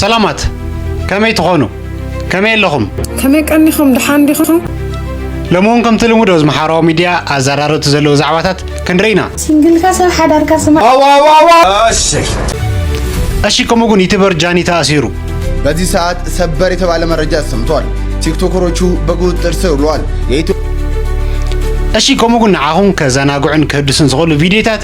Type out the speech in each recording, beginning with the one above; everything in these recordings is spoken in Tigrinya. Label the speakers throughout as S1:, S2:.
S1: ሰላማት ከመይ ትኾኑ? ከመይ ኣለኹም? ከመይ ቀኒኹም?
S2: ድሓን ዲኹም? ሎሚ እውን
S1: ከምቲ ልሙድ ኣብዚ ማሕበራዊ ሚድያ ኣዘራረብቲ ዘለዉ ዛዕባታት ክንርኢ ኢና። ሲንግልካ ሰብ
S3: ሓዳርካ ስማ
S1: እሺ ከምኡ ግን ዩቲበር ጃኒ ተኣሲሩ በዚህ ሰዓት
S4: ሰበር የተባለ መረጃ ተሰምቷል። ቲክቶከሮቹ በቁጥጥር ስር ውለዋል። የኢትዮ
S1: እሺ ከምኡ ግን ንዓኹም ከዘናግዑን ከህድሱን ዝኽእሉ ቪድዮታት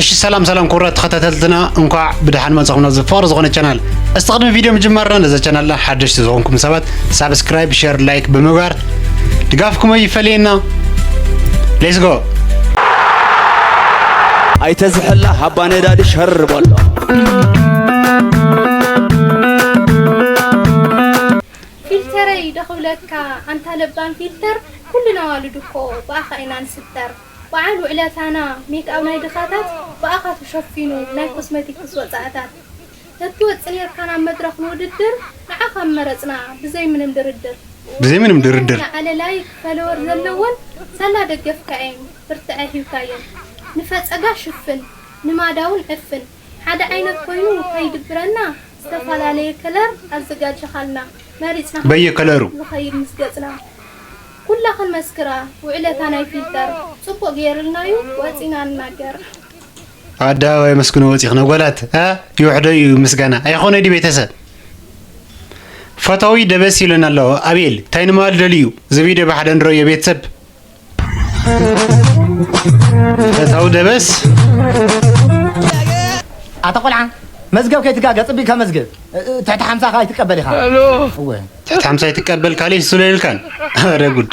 S1: እሺ ሰላም ሰላም ክቡራት ተኸታተልትና እንኳዕ ብድሓን መጻኹም ናብዚ ፍቕሪ ዝኾነ ቻናል እስቲ ቅድሚ ቪድዮ ምጅማርና ነዚ ቻናልና ሓደሽቲ ዝኾንኩም ሰባት ሳብስክራይብ ሸር ላይክ ብምግባር ድጋፍኩም ኣይፈለየና ሌትስ ጎ
S5: ኣይተ ዝሕላ ሃባ ነዳዲ ሸር በሎ
S3: ፊልተረይ ደኽብለካ ኣንታ ለባም ፊልተር ኩልና ኣዋልድ እኮ ብኣኻ ኢና ንስተር በዓል ውዕለታና ሜክኣብ ናይ ድኻታት ብኣኻ ተሸፊኑ ናይ ኮስመቲክስ ወፃእታት እትወጽእ ኔርካ ናብ መድረኽ ንውድድር ንዓኻ ምመረጽና ብዘይ ምንም ድርድር። ብዘይ ምንም ድርድር። ዝለዓለ ላይክ ፈለወር ዘለወን ሳላ ደገፍካ እየን ብርትዐ ሂብካየን ንፈጸጋ ሽፍን ንማዳውን ዕፍን ሓደ ዓይነት ኮይኑ ከይድብረና ዝተፈላለየ ከለር ኣዘጋጅኻልና መሪጽና በየ ከለሩ
S1: ዝኸይድ ምስ ገጽና
S3: ኩላኽን መስክራ ውዕለታ ናይ ፊልተር ጽቡቕ ገይርልናዩ ወጺና ንናገር።
S1: ኣደባባይ መስግኖ ወፂኽ ነጎላት ይውሕዶ እዩ ምስጋና ኣይኾነ ዲ ቤተሰብ ፈታዊ ደበስ ይለን ኣሎ ኣቤል እንታይ ንማል ደልዩ እዚ ቪድዮ ብሓደ ንረዮ ቤተሰብ ፈታዊ ደበስ
S6: ኣታ ቆልዓ መዝገብ ከይትጋገ ፅቢቅ ከመዝግብ ትሕቲ ሓምሳ ከዓ ይትቀበል ኢኻ
S5: ትሕቲ ሓምሳ
S1: ይትቀበል ካልእ ይስለልካን ኧረ ጉድ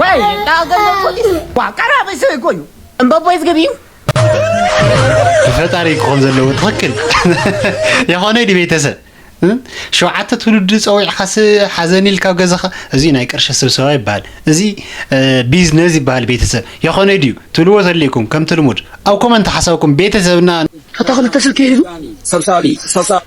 S6: ወይ ጣ ገንዘብ ፎቲ ዋ ቀራበይ ሰበይ እኮ እዩ እምበቦይ ዝግብ እዩ
S1: ፈጣሪ ክኾን ዘለዎ ትኽክል የኾነ ዲ ቤተሰብ ሸውዓተ ትውልዲ ፀዊዕካስ ሓዘን ኢልካ ኣብ ገዛኻ እዚ ናይ ቅርሺ ስብሰባ ይበሃል እዚ ቢዝነስ ይበሃል ቤተሰብ የኾነ ድዩ ትብልዎ ተልይኩም ከምቲ ልሙድ ኣብ ኮመንት ሓሳብኩም ቤተሰብና እታ ክልተ ስልኪ
S2: ሒዙ ሰብሳቢ
S7: ሰብሳቢ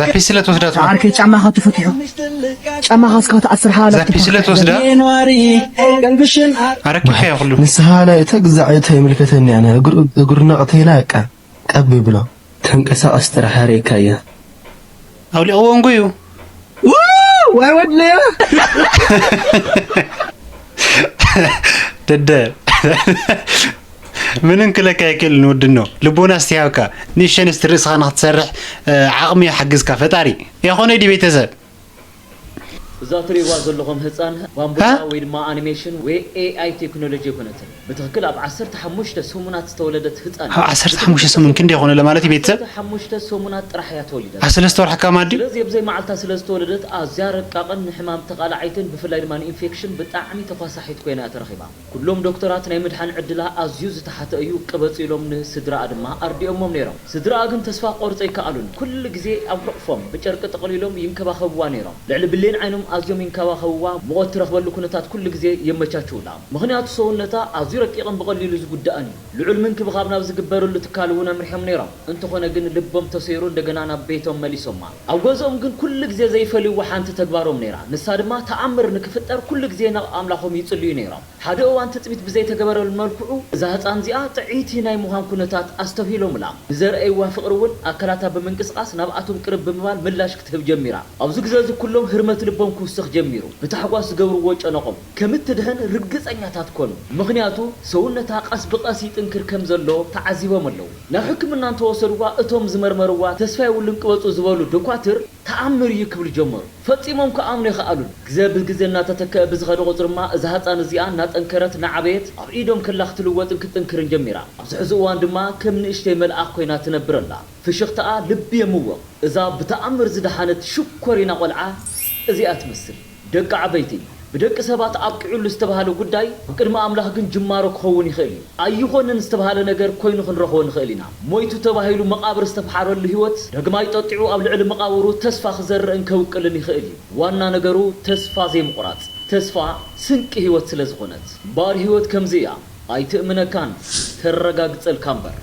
S1: ዛፒስለ ትወስዳ ዓርከይ ጫማኻ
S2: ተፈትሑ ጫማኻ እስካ ትኣስር ሓላ ዛፒስለ ትወስዳ
S1: ኣረኪብካዮ ኩሉ ንስኻ ናይ እታ ግዛዕ
S7: እቶ የምልከተኒ ኣነ እግሩ ነቕተይላ እቃ ቀብ ይብሎ ተንቀሳቐስ ጥራሕ ኣርእካያ
S1: ኣውሊቕዎ እንጉዩ ዋይ ወድለያ ደደ ምንም ክለካ ኣይክእልን ወድኖ ልቦና ስትሃብካ ንእሸንስቲ ርእስኻ ንክትሰርሕ ዓቕሚ ይሓግዝካ ፈጣሪ ያኾነይ ዲ ቤተሰብ
S8: እዛ እትሪእዋ ዘለኹም ህጻን ባምቡጫ ወይ ድማ ኣኒሜሽን ወይ AI ቴክኖሎጂ ኣይኮነትን። ብትኽክል ኣብ ዓሰርተ ሓሙሽተ ሰሙናት ዝተወለደት ህጻን እያ። ኣብ ዓሰርተ ሓሙሽተ ብትኽክል ሰሙን
S1: ክንደይ ይኾኑ ለማለት እዩ ኣብ ቤተሰብ? ዓሰርተ ሓሙሽተ ሰሙናት
S8: ጥራሕ እያ ተወሊዳ ኣብ ዘላ። ሰለስተ ወርሒ ከማን ድዩ?
S1: ስለዚ ኣብዘይ መዓልታ ስለ
S8: ዝተወለደት ኣዝያ ረቃቕን ንሕማም ተቓላዓይትን ብፍላይ ድማ ንኢንፌክሽን ብጣዕሚ ተዃሳሒት ኮይና እያ ተረኺባ። ኩሎም ዶክተራት ናይ ምድሓን ዕድላ ኣዝዩ ዝተሓተ እዩ ቅበጽ ኢሎም ን ስድራኣ ድማ ኣርዲኦሞም ነይሮም ስድራኣ ግን ተስፋ ክቆርጹ ኣይከኣሉን ኩሉ ግዜ ኣብ ሕቁፎም ብጨርቂ ጠቅሊሎም ይንከባከብዋ ነይሮም ልዕሊ ብሌን ዓይኖም ኣዝዮም ይንከባከብዋ ሙቆት ትረክበሉ ኩነታት ኩሉ ግዜ የመቻችውላ ምክንያቱ ሰውነታ ኣዝዩ ረቂቅን ብቀሊሉ ዝጉዳእን እዩ። ልዑል ምንክብኻብ ናብ ዝግበርሉ ትካል እውን ኣምሪሖም ነይሮም። እንተኾነ ግን ልቦም ተሰይሩ እንደገና ናብ ቤቶም መሊሶማ። ኣብ ገዝኦም ግን ኩሉ ግዜ ዘይፈልይዎ ሓንቲ ተግባሮም ነይራ። ንሳ ድማ ተኣምር ንክፍጠር ኩሉ ግዜ ናብ ኣምላኾም ይጽልዩ ነይሮም። ሓደ እዋን ትጽቢት ብዘይተገበረሉ መልክዑ እዛ ህጻን እዚኣ ጥዕይቲ ናይ ምዃን ኩነታት ኣስተብሂሎምላ። ንዘርኣይዋ ፍቕሪ እውን ኣካላታ ብምንቅስቓስ ናብኣቶም ቅርብ ብምባል ምላሽ ክትህብ ጀሚራ። ኣብዚ ግዜ እዚ ኩሎም ህርመት ልቦም ክውስኽ ጀሚሩ። ብታሕጓስ ዝገብርዎ ጨነቖም። ከም እትድሕን ርግጸኛታት ኰኑ፣ ምኽንያቱ ሰውነታ ቐስ ብቐስ ይጥንክር ከም ዘሎ ተዓዚቦም ኣለዉ። ናብ ሕክምና እንተ ወሰድዋ፣ እቶም ዝመርመርዋ ተስፋ የብሉን ቅበጹ ዝበሉ ዶኳትር፣ ተኣምር እዩ ክብሉ ጀመሩ። ፈጺሞም ክኣምኑ ኣይኸኣሉን። ግዘ ብግዘ እናተተክኣ ብዝኸደ ቝጽሪማ፣ እዛ ህጻን እዚኣ እናጠንከረት እናዓበየት ኣብ ኢዶም ከላ ክትልወጥን ክትጥንክርን ጀሚራ። ኣብዚ ሕዚ እዋን ድማ ከም ንእሽተይ መልኣኽ ኰይና ትነብር ኣላ። ፍሽኽታኣ ልቢ የምውቕ። እዛ ብተኣምር ዝደሓነት ሽኮሪና ቈልዓ እዚኣ ትመስል። ደቂ ዓበይቲ፣ ብደቂ ሰባት ኣብቂዑሉ ዝተብሃለ ጉዳይ ብቅድሚ ኣምላኽ ግን ጅማሮ ክኸውን ይኽእል እዩ። ኣይኾንን ዝተብሃለ ነገር ኮይኑ ክንረኽቦ ንኽእል ኢና። ሞይቱ ተባሂሉ መቓብር ዝተፍሓረሉ ህይወት ዳግማይ ጠጢዑ ኣብ ልዕሊ መቓብሩ ተስፋ ክዘርእን ከብቅልን ይኽእል እዩ። ዋና ነገሩ ተስፋ ዘይምቑራጽ። ተስፋ ስንቂ ህይወት ስለ ዝኾነት። እምበኣር ህይወት ከምዚ እያ። ኣይትእምነካን፣ ተረጋግጸልካ እምበር።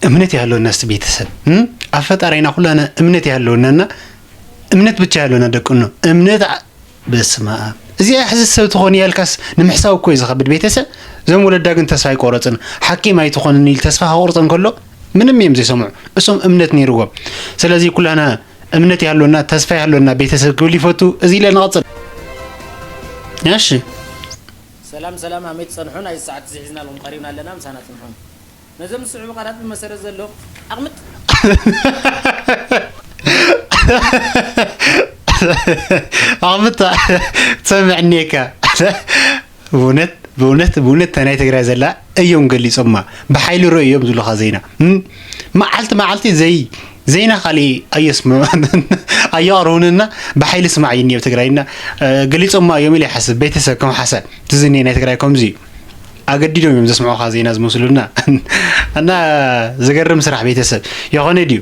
S1: እምነት ያለውና እስቲ ቤተሰብ ኣብ ፈጣሪና ኩላና እምነት ያለውናና እምነት ብቻ ያለውና ደቅኖ እምነት በስማ እዚኣ ሕዚ ሰብ ትኾን ያልካስ ንምሕሳብ እኮ እዩ ዝኸብድ ቤተሰብ እዞም ወለዳ ግን ተስፋ ኣይቆረፅን ሓኪም ኣይትኾንን ኢል ተስፋ ከቁርፅ እንከሎ ምንም እዮም ዘይሰምዑ እሶም እምነት ነይርዎም ስለዚ ኩላና እምነት ያለውና ተስፋ ያለውና ቤተሰብ ክብል ይፈቱ እዚ ኢለ ንቐፅል እሺ
S6: ሰላም ሰላም ኣሜት ጸንሑ ናይዚ ሰዓት እዚ ሒዝናልኩም ቀሪብና ኣለና ምሳና ጽንሑ ነዞም ዝስዕቡ ቃላት ብመሰረት ዘሎ ኣቕምጥ።
S1: ኣቕምጥ ትሰምዕ እኒኤካ ብእውነት ብእውነት ብእውነት እታ ናይ ትግራይ ዘላ እዮም ገሊፆማ ብሓይሊ ርኡ እዮም ዝብሉኻ ዜና መዓልቲ መዓልቲ ዘይ ዜና ካልእ ኣየስምዑ ኣየቕርቡንና ብሓይሊ ስማዕ እዩ ኣብ ትግራይ እና ገሊፆማ እዮም ኢለ ይሓስብ ቤተሰብ ከም ሓሳብ ትዝኒ ናይ ትግራይ ከምዚ እዩ ኣገዲዶም እዮም ዘስምዑኻ ዜና ዝመስሉና እና ዘገርም ስራሕ ቤተሰብ የኾነ ድዩ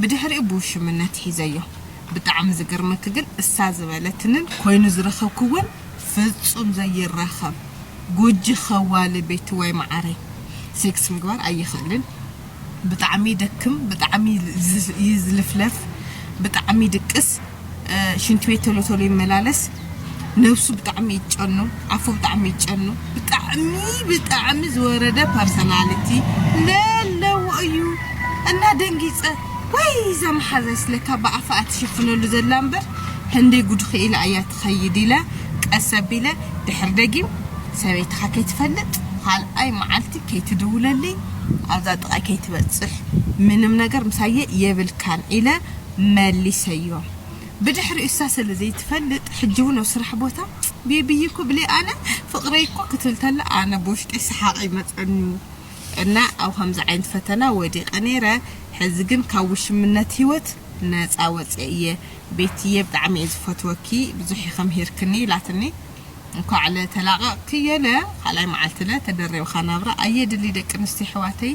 S2: ብድሕሪኡ ብውሽምነት ሒዘዮ ብጣዕሚ ዝገርመኪ ግን እሳ ዝበለትንን ኮይኑ ዝረከብክዎን ፍጹም ዘይራከብ ጎጂ ከዋሊ ቤትዋይ ማዓረይ ሴክስ ምግባር ኣይክእልን ብጣዕሚ ይደክም ብጣዕሚ ይዝልፍለፍ ብጣዕሚ ይድቅስ ሽንቲ ቤት ቶሎ ቶሎ ይመላለስ ነብሱ ብጣዕሚ ይጨኑ ኣፉ ብጣዕሚ ይጨኑ ብጣዕሚ ብጣዕሚ ዝወረደ ፐርሰናሊቲ ለለዎ እዩ እና ደንጊፀ ወይ እዛ መሓዛይ ስለካ ብኣፋ ኣትሸፍነሉ ዘላ እምበር ህንደይ ጉድ ክኢላ እያ ትኸይድ ኢለ ቀስ ኣቢለ ድሕር ደጊም ሰበይትኻ ከይትፈልጥ ካልኣይ መዓልቲ ከይትድውለልይ ኣብዛ ጥቃይ ከይትበፅሕ ምንም ነገር ምሳየ የብልካን ኢለ መሊሰዮ ብድሕሪኡ እሳ ሰለ ዘይትፈልጥ ሕጂ ውን ኣብ ስራሕ ቦታ ቤቢይ እኮ ብለይ ኣነ ፍቅረይ እኮ ክትብል ተላ ኣነ ብውሽጠይ ሰሓቅ ይመጸኒ እና ኣብ ከምዚ ዓይነት ፈተና ወዲቀ ነይረ ሕዚ ግን ካብ ውሽምነት ሂወት ነጻ ወጽየ እየ ቤቲየ ብጣዕሚ እየ ዝፈትወኪ ብዙሕ ኢኪ ምሂርክኒ ኢላትኒ እንኳዕ ለ ተላቀቅኪ የለ ካልኣይ መዓልቲ ለ ተደሪብካ ናብራ ኣየድሊ ደቂ ኣንስትዮ ኣሕዋተይ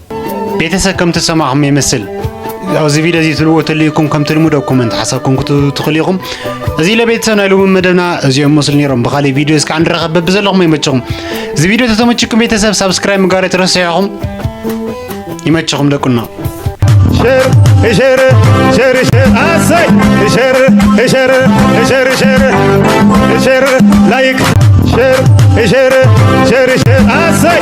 S4: ቤተሰብ
S1: ከም ተሰማዕኹም ይመስል ኣብዚ ቪድዮ እዚ ትልዎ ተልዩኩም ከምቲ ልሙድ ኣብ ኮመንት ሓሳብኩም ክትህቡ ትኽእሉ ኢኹም እዚ ለቤተሰብ ናይ ሎሚ መደብና እዚኦም መስሉ ነይሮም ብካሊእ ቪድዮ እስካዕ ንራኸብ በብዘለኹም ይመችኹም እዚ ቪድዮ ተተመችኩም ቤተሰብ ሳብስክራይብ ምጋር ትረስዑኹም ይመችኹም ደቁና ሸር ሸር ሸር
S9: ሸር ኣሰይ ሸር ሸር ሸር ሸር ሸር ላይክ ሸር ሸር ሸር ሸር ኣሰይ